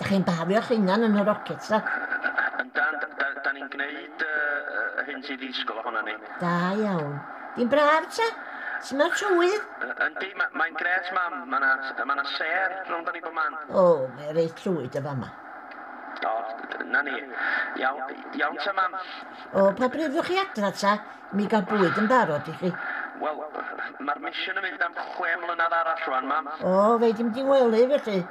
Dych chi'n bafio'ch hunan yn y rockets, da? Yndan, da, da ni'n gwneud uh, uh, hyn sydd i ddisgwyl ohono ni. Da iawn. Di'n braf, ta? Sut mae'r tywydd? Yndi, ma, mae'n gret, mam. Mae yna ma na ser rhwng ni bod man. O, oh, mae reit llwyd y fama. O, na ni. Iawn, iawn ta, mam. O, pa bryd ddwch chi adra, ta? Mi gael bwyd yn barod i chi. Wel, mae'r misiwn yn mynd am chwe mlynedd arall rwan, mam. O, fe dim di wely, felly.